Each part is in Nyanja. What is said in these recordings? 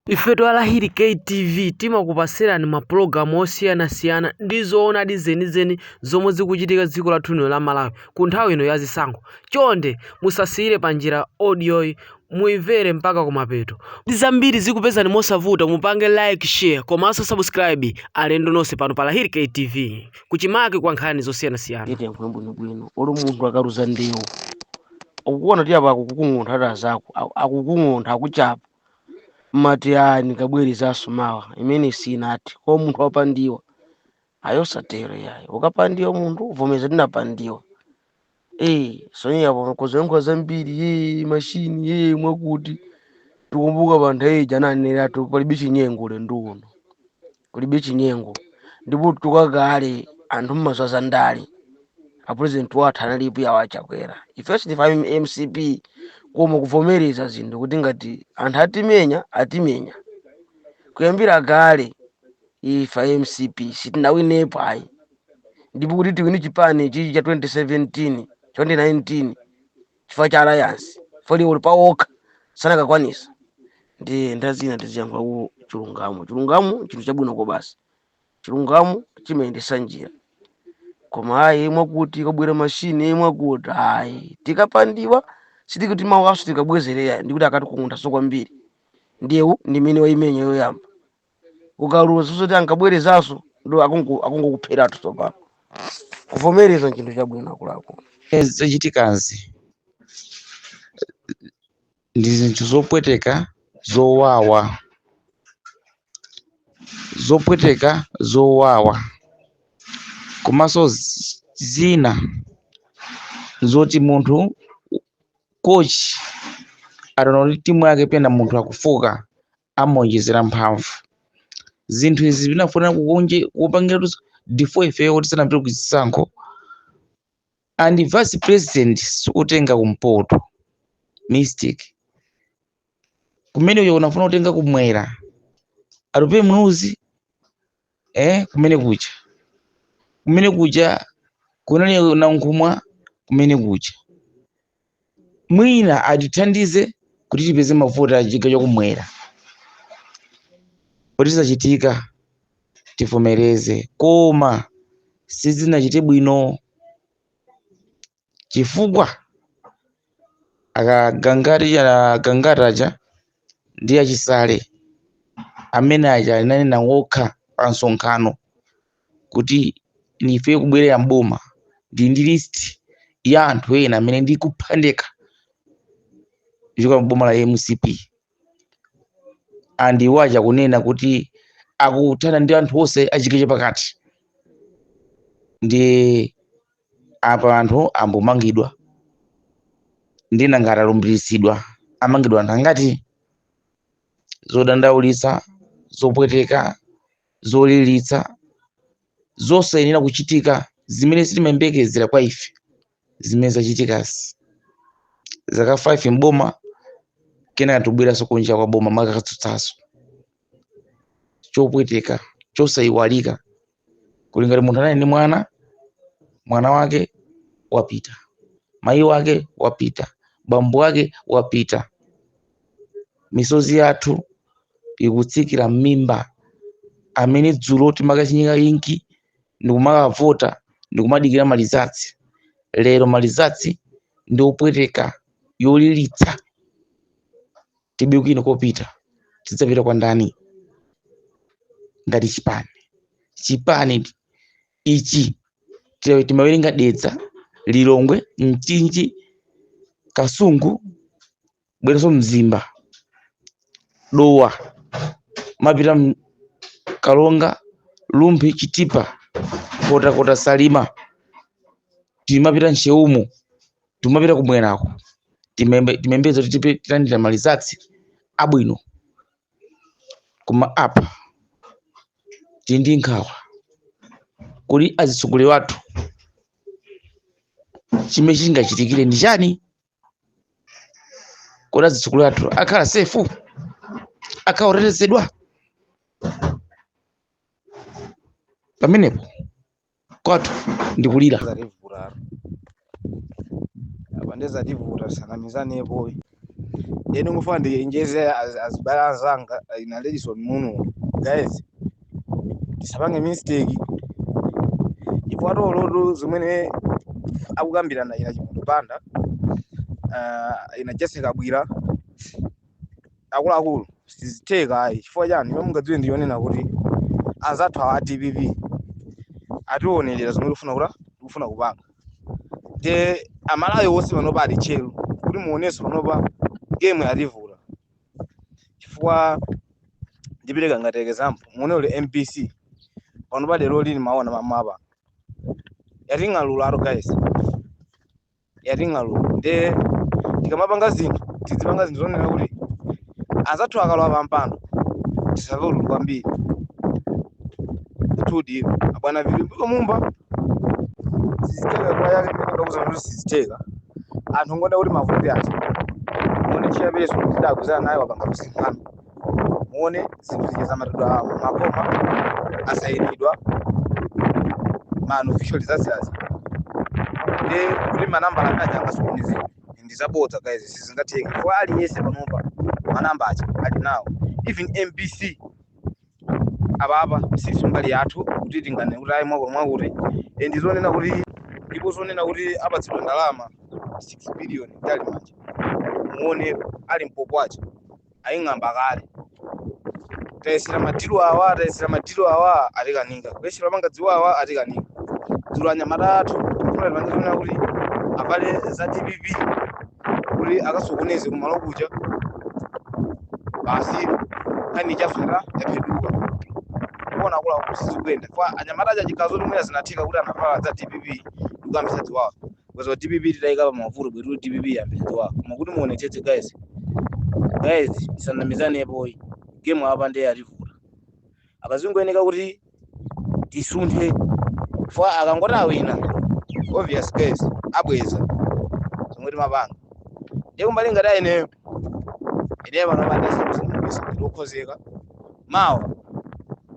Ifetu a Lahiri K TV timakupatsirani ma program osiyanasiyana ndi zoonadi zenizeni zomwe zikuchitika dziko lathu lino la Malawi ku nthawi ino ya zisankho. Chonde musasiyire panjira audioyi muimvere mpaka kumapeto kuti zambiri zikupezeni mosavuta mupange like, share komanso subscribe alendo nonse pano pa Lahiri K TV kuchimake kwa nkhani zosiyanasiyana. Ndiyetu yankhulani bwinobwino olo munthu akaluza ndewu ukuona kuti apa akukukung'untha ati azako aku- akukung'untha akuchapa umati ayi ndikabwerezanso mawa imene sinati koma munthu wapandiwa ayi osatero yayi ukapandiwa munthu uvomeza tinapandiwa eh osayamba kuziyankhula zambiri ye mashini ye mwakuti tikumbuka panthawi ija ananenera ati palibe chinyengo ulendo uno kulibe chinyengo ndipo kuchoka kale anthu mumadziwa za ndale a president wathu analipo yawo achakwera ife si ife a mcp koma kuvomereza zinthu kuti ngati anthu atimenya atimenya kuyambira kale ife a mcp sitinawinepo ayi ndipo kuti tiwine chipani chichi cha 2017 2019 chifukwa cha alliance olo ali pa okha sanakakwanisa ndiye nthawi zina tiziyankhulako chilungamo chilungamo chinthu chabwino kwabasi chilungamo chimayendesa njira koma ayi mwakuti kabwera mashini mwakuti ayi tikapandiwa sitikuti mawanso tikabwezera ndikuti akatikunthanso kwambiri ndewu ndi mene waimenya yoyamba ukaluza zoti akabwerezanso ndi akungo- akungokupheratu tsopano kuvomereza nchinthu chabwino akuluakulu zochitikazi ndi zinthu zopweteka zowawa zopweteka zowawa komanso z- zina nzoti munthu kochi ataona kuti timu yake penalty munthu akufooka amaonjezera mphamvu zinthu izi zinafunika kukonza kupangira luso before ifeyo kuti tisanapite ku zisankho and vice president sikutenga kumpoto mistake kumene uyo unafuna kutenga kumwera atupe muluzi eh kumene kuja kumene kuja kunali nankhumwa kumene kuja mwina atithandize kuti tipeze mavoti a chigawo chakumwera kuti zachitika tivomereze koma sizinachite bwino chifukwa agangata agangata aja ndi achisale amene aja ananena wokha pa msonkhano kuti nife kubwerera mboma ndi ndi list ya anthu ena amene ndikupha ndekha kuchoka mboma la mcp and iwo aja kunena kuti akuthana ndi anthu onse achigawo cha pakati ndi apa anthu ayamba kumangidwa nde nanga atalumbiritsidwa amangidwa anthu angati zodandaulitsa zopweteka zolilitsa zosayenera kuchitika zimene sitimayembekezera kwa ife zimene zachitikazi zaka 5 mboma kenaka tibweranso kunja kwa boma kumakatsutsanso chopweteka chosayiwalika kuli ngati munthu anali ndi mwana mwana wake wapita mayi wake wapita bambo wake wapita misozi yathu ikutsikira m'mimba amene dzulo timakachinyika inki ndikumakavota ndikumadikira malizatsi lero malizatsi ndi opweteka yolilitsa tilibe kwina kopita tidzapita kwa ndani ngati chipani chipani ichi ti- timawerenga dedza lilongwe mchinji kasungu bweranso mzimba dowa timapita m- karonga rumphi chitipa nkhotakota salima timapita ntcheumu timapita kumwerako timembe- timayembekeza kuti tipe- tilandira malizatsi abwino koma apa tili ndi nkhawa kodi azitsogoleri athu chimene chingachitikire ndi chani kodi azitsogoleri athu akhala sefu akhala otetezedwa pamenepo kwathu ndikulira zativutatu apa ndiye zativuta tisanamizanepo ine ndikufuna ndichenjeze az- azibale anzanga ina ledison muno guys tisapange mistake if at all zimene akukambirana ina chimwendo banda uh, ina jessie kabwila akuluakulu sizitheka ayi chifukwa chani chomwe mungadziwe ndi chonena kuti anzathu awa a dpp atiwonerera zomwe tikufuna kuti tikufuna kupanga the amalawi wonse panopa ali tcheru kuti muonenso panopa game yativuta chifukwa ndipereka ngati example muone olo mbc panopa lerolino mwaona mmene yating'alulira guys yating'alula nde tikamapanga zinthu tidzipanga zinthu zonena kuti anzathu akalowa pampando tisamve ululu kwambiri tudi abwana vitumbiko mumba sizitheka kwa yake mene ndakuzana kuti sizitheka anthu ngoda kuti mavuto athu mone chiyapeso kuti akuzana naye wapanga kusinkhana muone zinthu zija zamatidwa mmakoma zasayinidwa ma unofficial zaziyazi ndi kuti manambala amene aja angasokonezedwe ndi zabodza guys sizingatheke chifukwa aliyense panopa manamba aja ali nawo even mbc apapa sili mbali yathu kuti tinganene kuti ayi mwako mwakuti Eh, ndi zonena kuti ndipo zonena kuti apatsidwa ndalama 6 billion ndili mmanja muone ali mpopo aja aying'amba kale tayesera madilu awa tayesera madilu awa atikanika kuyesera kupanga ziwawa atikanika dzulo anyamata athu mfuna tipange zonena kuti avale za dpp kuti akasokoneze kumalo kuja basi nkhani ya zera yapheduka kuona kula kuti sizikuyenda anyamata aja chikazo limwera zinatheka kuti anavala za dpp ndikuyambisa ziwawa Because a DPP titawaika pa mavuto bwetu DPP ambiri awa. Koma kuti muonetsetse guys. Guys, tisanamizane boy. Game apa nde yativuta. Apa zingoyeneka kuti tisunthe. Fa akangoti awina. Obvious guys, abweza. Zomwe timapanga. Ndiye kumbali ngati imeneyo. Ineyo panopa ndisabise ndikukonzeka. Mawa.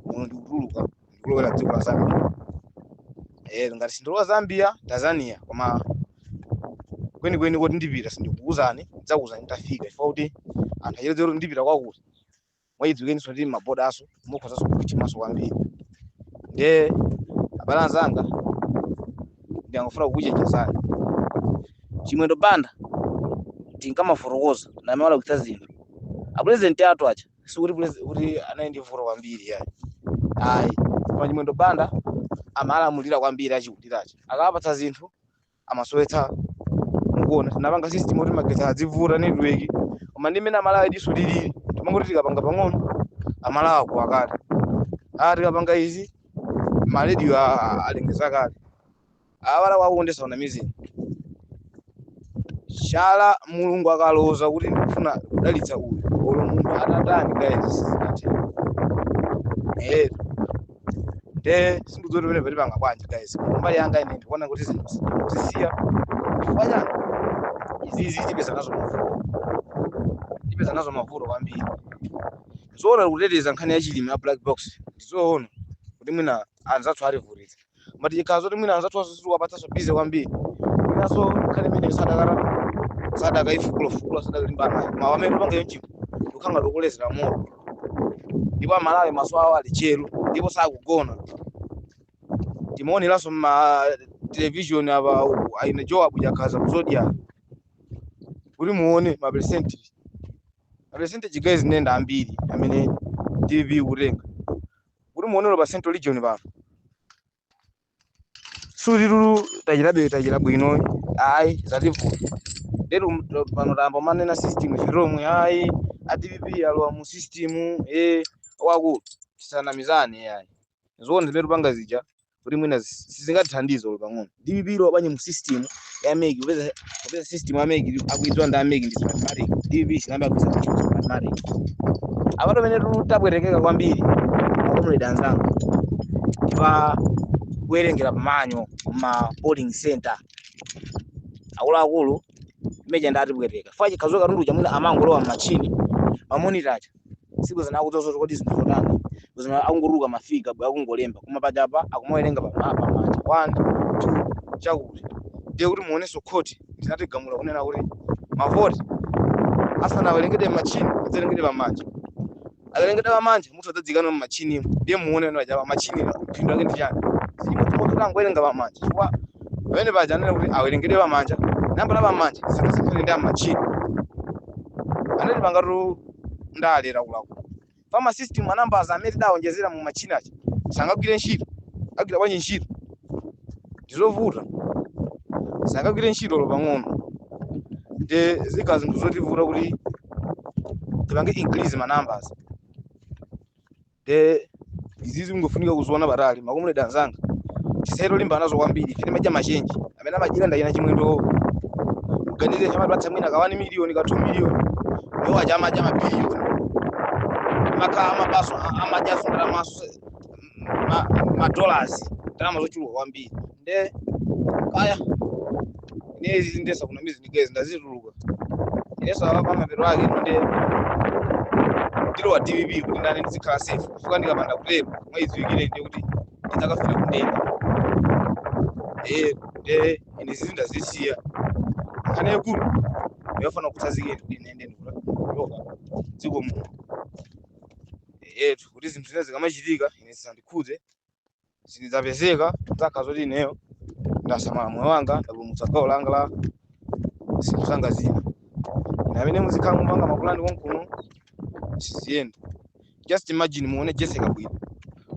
Muno ndikutuluka. ndikulowera dziko la zambia eh ngati sindilowa zambia tanzania koma kwenikweni kuti ndipita sindikukuuzani ndidzakuuzani nditafika chifukwa kuti anthu acheredzera kuti ndipita kwakuti mwachidziwikenso kuti mabodanso mukhozanso kutchinganso kwambiri nde abale anzanga ndimangofuna kukuchenjezani chimwendo banda tikamafotokoza ndi amene walakwitsa zinthu apulezidenti athu aja sikuti pulezi- kuti anali ndi vuto kwambiri yayi ayi koma chimwendo banda amalamulira kwambiri achikulire aja akampatsa zinthu amasowetsa mukuona tinapanga system kuti magetsi adzivuta network koma ndi mmene amalawi diso lilili timangoti tikapanga pang'ono amalawi akuwa kale ah tikapanga izi marediyo alengeza kale Abale akunja asakunamizeni. Chala Mulungu akaloza kuti ndikufuna kudalitsa uyu, olo munthu atatani guys sizingatheke. Eh, nde sindikudziwa kuti pamenepa tipanga bwanji guys. Koma mbali yanga ine ndikuona kuti zinthu tizisiye. Chifukwa chani? Izizi tipeza nazo mavuto. Tipeza nazo mavuto kwambiri. Zoona tikuteteza nkhani ya chilimi ya black box. Ndizoona kuti mwina anzathu ativutitsa. koma zikhala zoti mwina anzathu onse sitiwapatsanso busy kwambiri mwinanso nkhani imeneyo sadaka sadakaifukula-fukula sadakalimbanayo koma mmene tikupanga yonchipo tikungokolezera moto ndipo amalawi maso awo ali tcheru ndipo sakugona timaoneranso mma television apa uku, aine joabu Chakhaza ku Zodiak kuti muone ma percentage ma percentage guys nanga ambiri amene DPP ikutenga kuti muone olo pa central region pano sulilulu tachitabe tachita bwino ayi zativuta lero m- pano tayamba kumanena system chizomwe ayi a dpp alowa mu system e wakulu tisanamizane ayi zoona zimene tikupanga zija kuti mwina zi- sizingatithandize olo pang'ono dpp ilowa bwanji mu system ya MEC kupeza kupeza system ya MEC akuidziwa ndi a MEC ndi smartmatic dpp sinayamba kuidziwa smartmatic apatu pamene tu- tabwerekeka kwambiri akomuledi anzanga pa kuwerengera pamanja ma polling center akuluakulu aja ndi atibwereka chifukwa chikhazikitso katundu chamwina amangolowa m'matchini mamonita aja si kudziwa zikuthauza kuti ndi zinthu zotani zina akungotuluka ma figure akungolemba koma apapa akumawerenga pama pamanja one two chakuti ndiye kuti muonenso khoti inagamula kunena kuti mavoti asanawerengedwe machini adzerengedwe pamanja akawerengedwa pamanja mavoti adzaikidwe mumachini ndiye muone kuti apapa machini phindu lake ndi chani simutangowerenga pamanja chifukwa pamene paja anena kuti awerengedwe pamanja nambala pamanja zisasiyane ndi amachini anatipangatu ndale laulaula chifukwa mu system manambas amene tidawonjezera mu matchini aja sangagwire ntchito agwira bwanji ntchito ndizovuta sangagwire ntchito olo pang'ono nde zikhala zinthu zotivuta kuti tipange increase ma numbers nde izizi zingofunika kuziona patali akomuledi anzanga tisalimbane nazo kwambiri ife timadya machenji amene amadyira ndi achina chimwendo muganize ife amatipatsa mwina ka 1 miliyoni ka 2 miliyoni iwo aja amadya mabiliyoni makamaka amabanso amadyanso ndalama za madollars ndalama zochuluka kwambiri nde kaya ine izi ndasiya kumbali izi ndikezi ndazituluka inenso akapanga mapeto ake ine nde ndilowa dpp kuti mwina ndizikhala safe chifukwa ndikapanda kutero mudziwiretu nde kuti ndidzakafika kundende eh nde ine izi ndazisiya nkhani yayikulu ndafuna kukutsanzikani kuti ine nde ndikutuluka dziko munotu kuti zinthu zina zikamachitika ine zisandikhudze zidzapezeka zakhala zoti ineyo ndasamala moyo wanga ndapulumutsa gawo langa la zinthu zanga zina na amene muzikhala mukupanga mapulani konkuno siziyenda just imagine mwaona jessie kabwila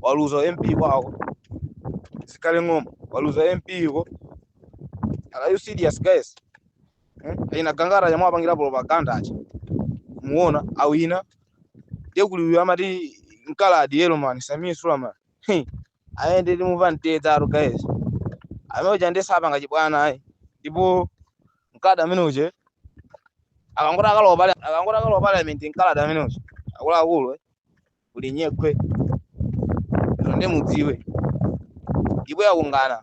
waluza mp kwawo zikhale Ng'oma waluza mp kwawo are you serious guys eh? nangangati momwe apangira propaganda aja mwaona awina ndiye kuli uyu amati mkaladi yellow man sameer suleman Heh, ayi nditimumva mtedza guys amene uja ndiye sapanga chibwana ayi ndipo mkaladi amene uja akangoti akalowa pali akangoti akalowa parliament mkaladi amene uja akuluakulu eh, kuli nyekhwe lero ndiye mudziwe ndipo yakungana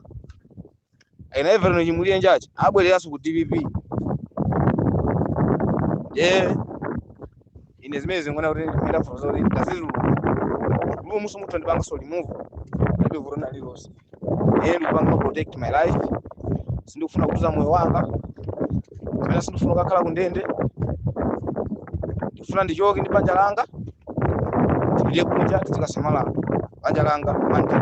Ena Everton Chimulirenji abwereranso ku DPP. Eh, ine zimene ndingoona kuti and therefore izi ndazituluka. Ndipo musu muthu ndipanga so remove. Ndipo vuto ndi lililonse. Eh, ndipanga protect my life. Sindikufuna kuluza moyo wanga. Kapena sindikufuna kukhala kundende. Ndikufuna ndichoke ndi banja langa. Ndiye kunja ndikasamale banja langa manja.